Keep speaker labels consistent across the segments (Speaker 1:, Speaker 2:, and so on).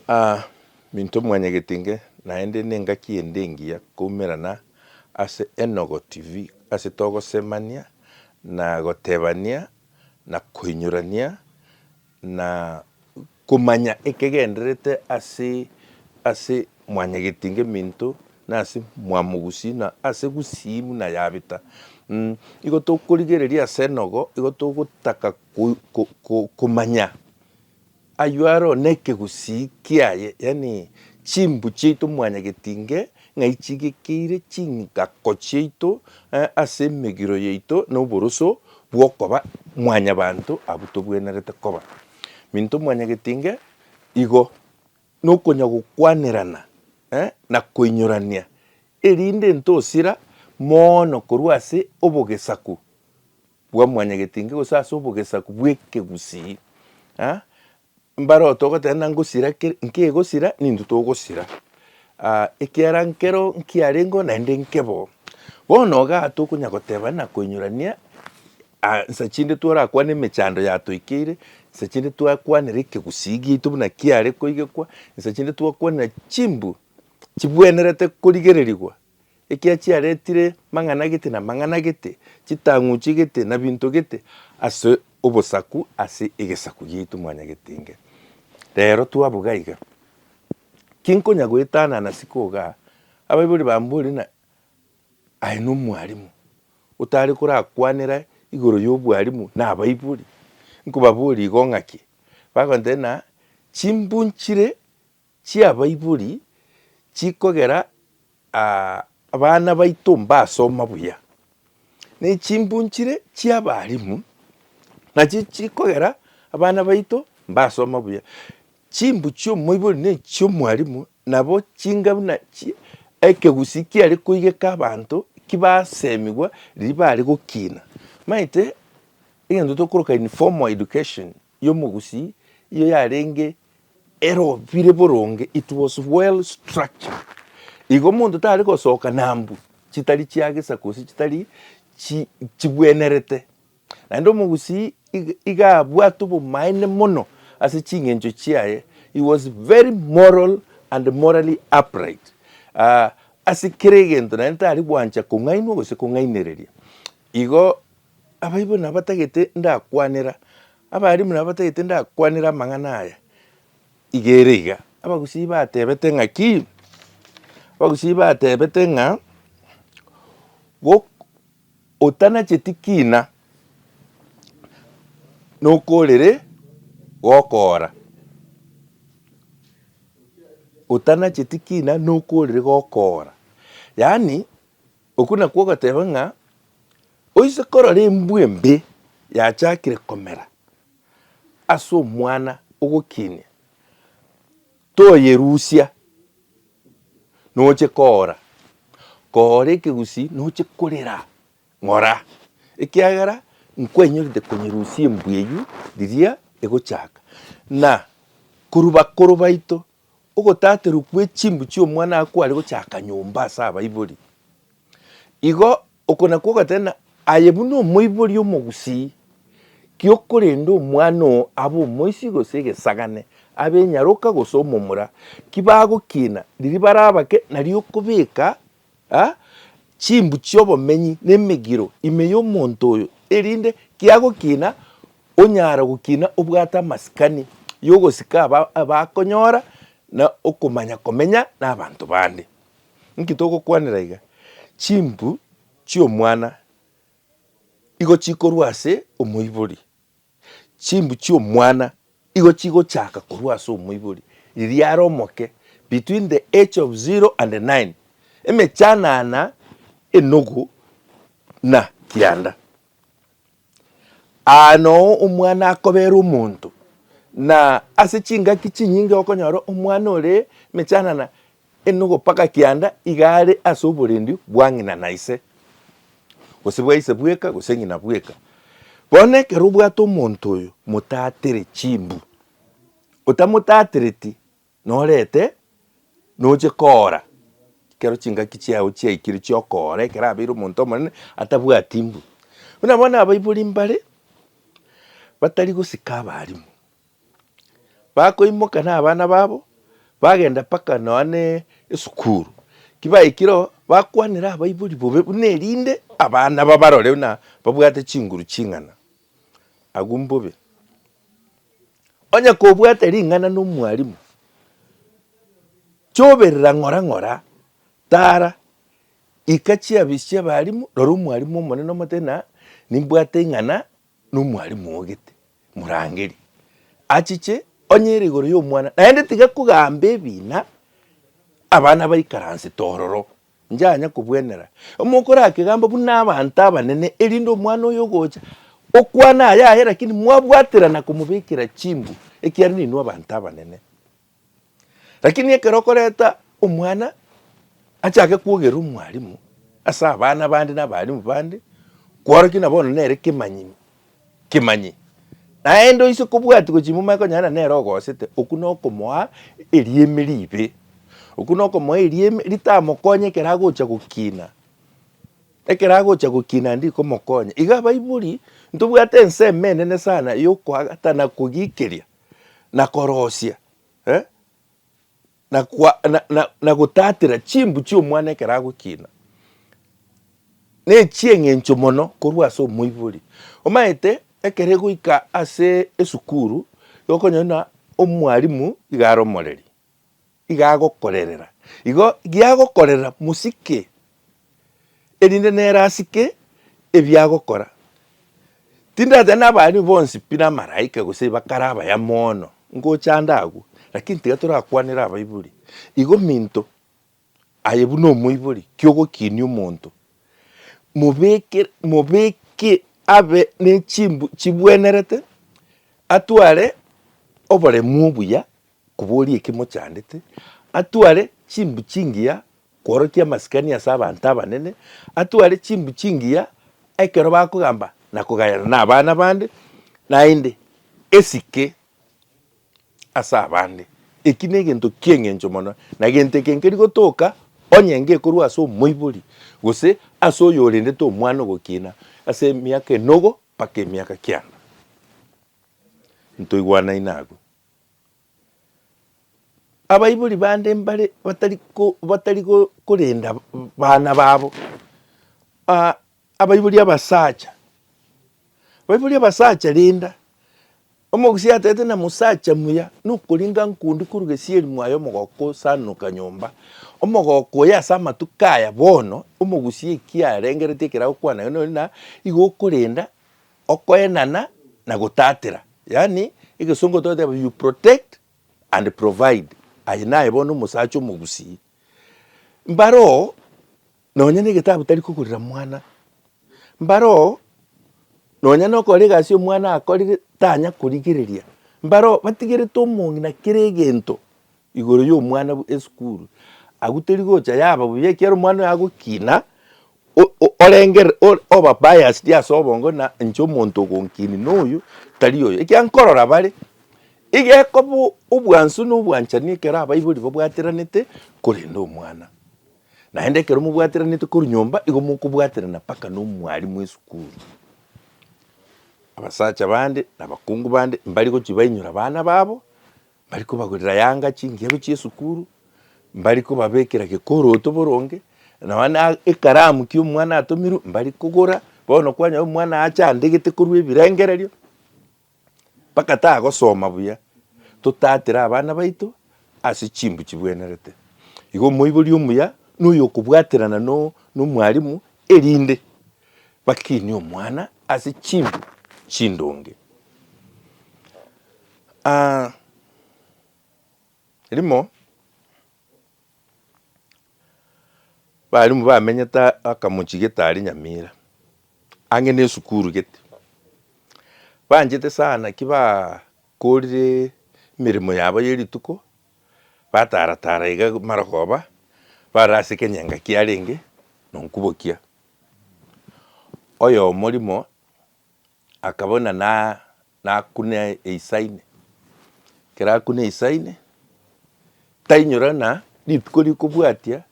Speaker 1: Aa, minto mwanyegete inge, naende nengaki ende engiya koumerana ase Enogo TV ase togosemania na gotebania na koinyorania na komanya ekegendererete ase ase mwanyegete inge minto na ase mwamogusi na ase gusii buna yabeta. Mh, igo tokorigereria ase Enogo, igo togotaka ko, ko, ko, komanya. Ayio aro nekegusii kiaye, yaani chimbu chiaito mwanyagetinge ng'ai chigekeire chingako chiaito ase emegiro yaito na oboroso bw'okoba mwanyabanto abwo togwenerete koba. Minto mwanyagetinge igo nokonya gokwanerana na koinyorania erinde ntosira moono korwa ase obogesaku. bwa mwanyagetinge gose ase obogesaku bw'ekegusii, mbarote ogoteba ng'a ngosira kere, nkegosira n'intwe togosira, ekiagera nkero nkiarengeo naende nke bo. Bono iga tokonya goteba na koinyurania nsa chinde torakwane emechando yatoikeire, nsa chinde twakwanera ekegusii giaito buna kiare koigekwa, nsa chinde twakwanera chimbu chibwenerete korigererigwa ekiagera chiaretire mang'ana gete na mang'ana gete, chitang'u chigete na binto gete ase obosaku ase egesaku giaito mwanyagetenge. Rero twabuga iga, kinkonya goetana na siko iga, abaibori bambore na aye nomwarimu otare korakwanera igoro yobwarimu na abaibori, nkobaboria igo ng'aki? Bagontebia na chimbunchire chi'abaibori chikogera abana baito mbasoma buya, na echimbunchire chi'abalimu nachio chikogera abana baito mbasoma buya. Chimbu chi'omoibori na echi'omwalimu nabo chinga buna chi ekegusii kiare koigeka abanto ki basemigwa riria bare gokina. Maete egento tokoroka informal education. y'omogusi iyo yarenge erobire boronge, it was well structured. Igo monto tare gosoka na mbu chitari chia gesa gose chitari chi chigwenerete. Naende omogusi iga iga abwate obomaene mono ase ching'encho chiaye, he was very moral and morally upright. Aah ase kera egento naende tari gwancha kong'ainwa gose kong'ainereria. Igo Abaibo nabatagete ndakwanera, abalimu nabatagete ndakwanera amang'ana aya. Iga ere iga, abagusii batebete ng'a ki? Abagusii batebete ng'a gok- otanacheti kina nokorere gokoora, otanacheti kina nokorere gokoora. Yaani. Okwo nakwo ogoteba ng'a oise korora embwa embe yachakire komera ase omwana ogokinia, toyerusia noche koora, koora ekegusii noche korera ng'ora, ekiagera nkwenyorete konyerusia embwa eywo riria egochaka. Na korwa bakoro baito Ogotaterwa kwe chimbu chi'omwana akware gochaka nyomba ase abaibori. Igo oko nakwo ogateba aye buna omoibori omogusii, ki okorenda omwana oo abe omoisii gose egesagane, abe enyaroka gose omomura, ki bagokiina riria barabake nariokobeka Aa, chimbu chi'obomenyi nemegiro ime y'omonto oyo, erinde kiagokina onyare gokina obwate amasikani y'ogosika aba abakonyora na okomanya komenya nabanto bande. Inki togokwanera iga? Chimbu chi'omwana igo chikorwa ase omoibori. Chimbu chi'omwana igo chigochaka korwa ase omoibori, riria are omoke, between the age of zero and nine, emechanana enogu na kianda. Aa noo omwana akobera omonto, na ase chingaki chinyinge okonyora omwana ore emechanana Enogopaka kianda iga are ase oborendi bwa ng'ina na ise, gose bwa ise bweka gose ng'ina bweka. Bono ekero obwate omonto oyo motatere chimbu, otamotatereti norete noche koora ekero chingaki chiao chiaikire chiokoora ekero abeire omonto omonene atabwati mbu. Buna bono abaibori mbare batari gosika abarimu. Bakoimoka na abana babo, bagenda mpaka nonya ne esukuru. Ki baikire oo, bakwanera abaibori bobe buna erinde abana babarore buna babwate chinguru ching'ana. Agwo mbobe. Onye kobwate ring'ana na omwalimu, choberera ng'ora ng'ora, tara, ika chiabisi chia abalimu, rora omwalimu omonene omotebi na nimbwate ing'ana Nomwalimu ogete, morangeri, achiche onye ere igoro y'omwana, naende tiga kogamba ebiina abana baikaransete ororo, njanya kobwenera mokorakegamba buna abanto abanene, erinde omwana oyo ogocha okwane aya aye, lakini mwabwaterana komobekera chimbu, ekiagera ninwe abanto abanene. Lakini ekero okoreta omwana achake kwogera omwalimu ase abana bande na abalimu bande, kworokia na bono nere kemanyi kemanyi. Naende oise kobwati gochia momanye konya na nere ogosete, okwo na okomoa erieme ribe. Okwo na okomoa erieme ritamokonye ekero agocha gokina. Ekero agocha gokina ndikomokonya. Iga abaibori ntobwate ensemo enene sana ya okoagatana kogikeria. na korosia, eh, na kwa, na, na, na gotatera chimbu chi'omwana ekero agokina, nechi'eng'encho mono korwa ase omoibori. Omanyete ekero egoika ase esukuru, igokonyora buna omwalimu iga aromoreri, igagokorerera. Igo giagokorerera mosike, erinde nere asike ebiagokora. Tindateba nabaaria bonsi pi namaraika gose bakare abaya mono, ngochanda agwo, lakini tiga torakwanere abaibori. Igo minto Aye buna omoibori ki'ogokinia omonto, mobeke, mobeke abe nechimbu chibwenerete, atware oboremu obuya koboria eki mochandete, atware chimbu chingiya kworokia amasikani ase abanto abanene, atware chimbu chingiya ekero bakogamba na kogayana na abana bande, naende esike ase abande. Eki negento ki'engencho mono, na gento eke nkeri gotoka onye ngekorwa ase omoibori, gose ase oyorendete omwana ogokiina ase emiaka enogo mpaka emiaka kianda. Ntoigwanaine agwo. Abaibori bande mbare batari ko batari korenda baana babo. Abaibori abasacha, abaibori abasacha rinda, omogusia atete na mosacha muya nokoringa nkundi korwa gesieri mwaye omogoko osanoka nyomba, omogoko oye ase amatuko aya bono omogusia ekia arengeretie ekero agokwana naye nori na igo okorenda okoenana na gotatera, yaani egesongo togoteba you protect and provide, aye naye bono omosacha omogusii. Mbaro Nonya negetabu tari kogorera mwana. Mbare oo, nonya nokora egasi omwana akorire tanya korigereria. Mbare oo, batigerete omong'ina kera egento igoro yomwana bwe esukuru. Agwo teri gocha yaba buya ekiagera omwana oyo agokina, o- o orengere or oba biased ase obongo ng'a inche omonto ogonkini noyo tari oyo. Ekiagera nkorora bare, igekoba obwansu na obwanchani ekero abaibori babwateranete korenda omwana. Naende ekero mobwatiranete korwa nyomba, igo mokobwaterana mpaka nomwarimu esukuru. Abasacha bande na abakungu bande mbari gochia bainyora abana babo, mbari kobagorera yanga chingiabo chi'esukuru, mbari kobabekera gekoroto boronge, nonya na ekaramu ki omwana atomirwe mbari kogora, bono kwanyora omwana acha andegete korwa ebirengererio. Bagataa gosoma buya, Totatera abana baito ase chimbu chibwenerete. Igo omoibori omuya na oyokobwaterana nomwalimu erinde bakinie omwana ase chimbu chindonge. Rimo. Balimu bamenyete akamochi getari Nyamira, ang'e na esukuru gete. Banchete sana naki bakorire emeremo yabo ye rituko, batara tara iga marogoba, bare ase ekenyenga kiarenge na onkubokia. Oyomo rimo akabuna na. Nakune eisaine, ekero akune eisaine, tainyora ng'a rituko rikobwatia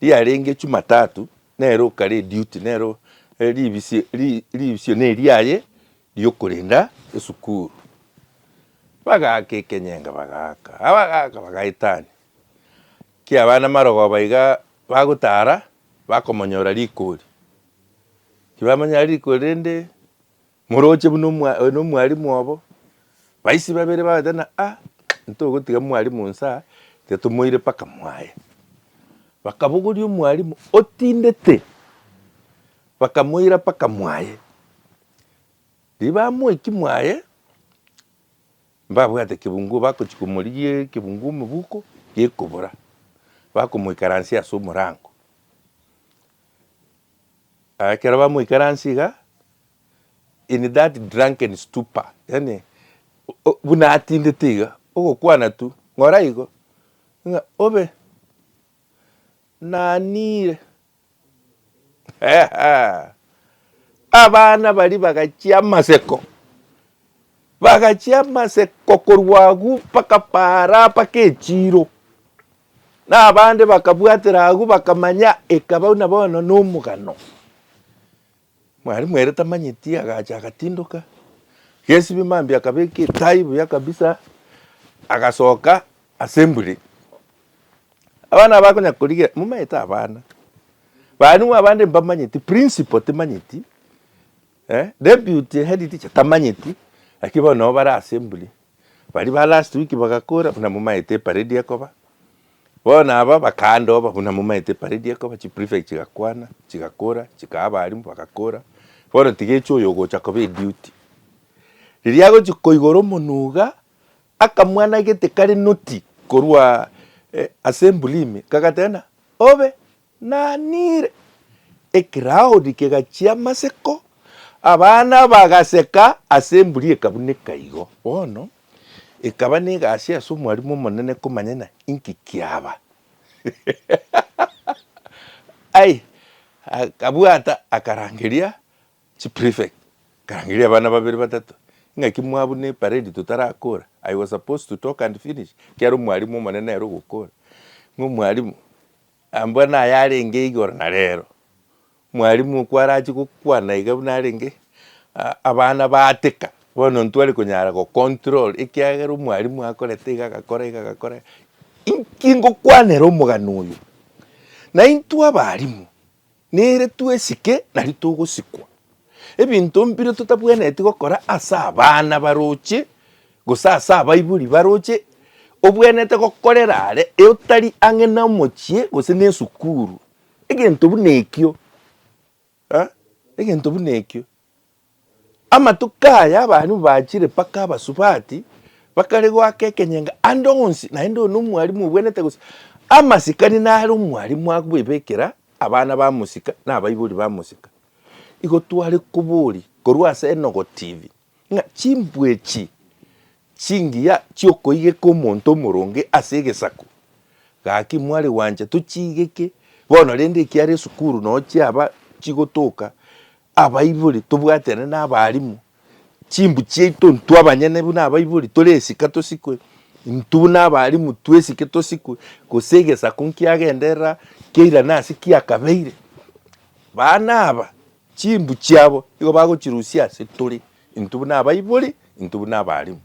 Speaker 1: riarenge jumatatu nere okare eduty nere ribisio ri- ribisio neriaye riokorenda esukuru. Bagaaka ekenyenge bagaaka, abagaaka bagaetania, ekia abana marogoba igaa bagotara bakomonyora riko eri, tibamanya riko rende. Moroche buna oyo nomwalimu obo. Baisi babere bagoteba ng'a, Ah, ntogotiga mwalimu nsa, titomoire mpaka mwaye. Bakabogoria omwalimu, Otindete? Bakamoira mpaka mwaye. Riria bamoekia mwaye, mbabwate kebungo bagochia komorigia ekebungo omoboko gekobora, bakomoikaransia ase omorango. Ekero bamoikaransie iga, in that drunken stupor, yaani buna atindete iga, ogokwana tu, ng'ora igo, ng'a obe, naniire. Abana baria bagachia amaseko, bagachia amaseko korwa agwo mpaka paara mpaka echiiro, Na abande bakabwatera agwo, bakamanya ekaba buna bono nomogano. Mwalimu ere tamanyeti agacha agatindoka, gesibie mambia akabeka etai buya kabisa, agasoka assembly. Abana bakonya korigia, momanyete abana, balimu abande mbamanyeti, principal timanyeti, deputy headteacher tamanyeti, lakini bono nabo bare assembly. Baria ba last week bagakora buna momaete eparedi ekoba, bono aba bakandoba buna momaete eparedi ekoba, chiprefect chigakwana, chigakora, chikaha abalimu bagakora, bono tigechia oyo ogocha koba eduty. Riria agochi koigora omonwe iga, akamwana gete kare noti korwa assembly ime, kagateba buna, obe Naanire. Ekilaodi kegachia amaseko, abana bagaseka, ase emburi ekabuneka igo. Bono, ekaba negasi ase omwarimu omonene komanya ng'a inki kiaba. Ai, akabwata, akarangeria chiprefect, akarangeria abana babere batato, ing'aki mwabuna eparedi totarakora? I was supposed to talk and finish, ekiagera omwarimu omonene nere ogokora. Ng'a omwarimu, Ambwa nayarenge igoro na rero. Mwalimu okwo arache gokwana iga buna arenge abana baateka bono ntware konyara go control ekiagera omwalimu akorete iga agakora iga agakora iga. Inki ngokwanera omogano oyo? Naintwe abalimu. Nere twesike nari togosikwa. Ebinto mbire totabwenereti gokora ase abana baroche gose ase abaibori baroche obwenerete gokorera are otari ang'e nomochie gose nesukuru. Egento buna ekio, egento buna ekio. Amatuko aya abarimu bachire mpaka abasubati, bakare goaka ekenyenga ande onsi, naende oyo nomwarimu obwenerete gose amasikani nare omwarimu agoebekera abana bamosika na abaibori bamosika. Igo tware koboria korwa ase Enogo TV, ng'a chimbwa echi chingiya chiokoigeka omonto omoronge ase egesaku, gaki mware gwancha tochiigeke bono rende ekiara esukuru noo chiaba chigotoka Abaibori tobwaterane nabarimu, chimbu chiaito intwe abanyene buna abaibori tore esika tosikwe, intwe buna abarimu twesike tosikwe, gose egesaku nkiagenderera kiairane ase kiakabeire. Baana aba chimbu chiabo nigo bagochirusia ase tore, intwe buna abaibori, intwe buna abarimu.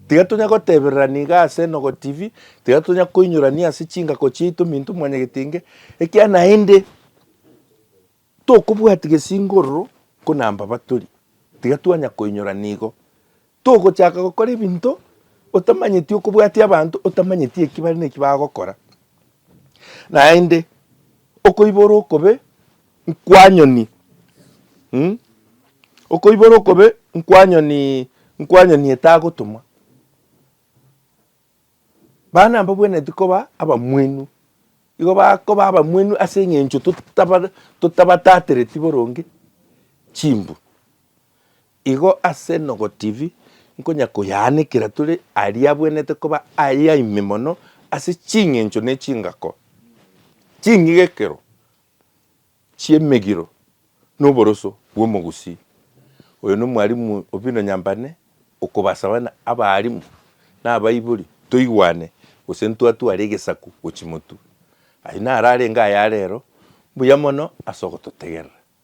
Speaker 1: Tiga tonya gotebererania iga ase Enogo TV, tiga tonya koinyorania ase chingako chiaito minto mwanyagetenge, ekiagera naende. Tokobwati gesingororo ko na mbaba tori, tiga twanya koinyora nigo togochaka gokora ebinto otamanyeti okobwatia abanto otamanyeti eki bare neki bagokora. Naende okoibora okobe nkwanyoni mm okoibora okobe nkwanyoni nkwanyoni etagotomwa. Bana mbabwenereti koba abamwenu, igo bakoba abamwenu ase eng'encho totabare totabatatereti boronge chimbu. Igo ase Enogo TV, nkonya koyaanekera tore aria abwenerete koba aye ime mono ase ching'encho na echingako ching'igekero. chi'emegiro noboroso bw'omogusii. Oyo nomwarimu obino nyambane okobasaba na abaarimu na abaibori toigwane gose ntwatware egesaku gochia motu. Aye nararenge aya arero mbuya mono ase ogototegerera.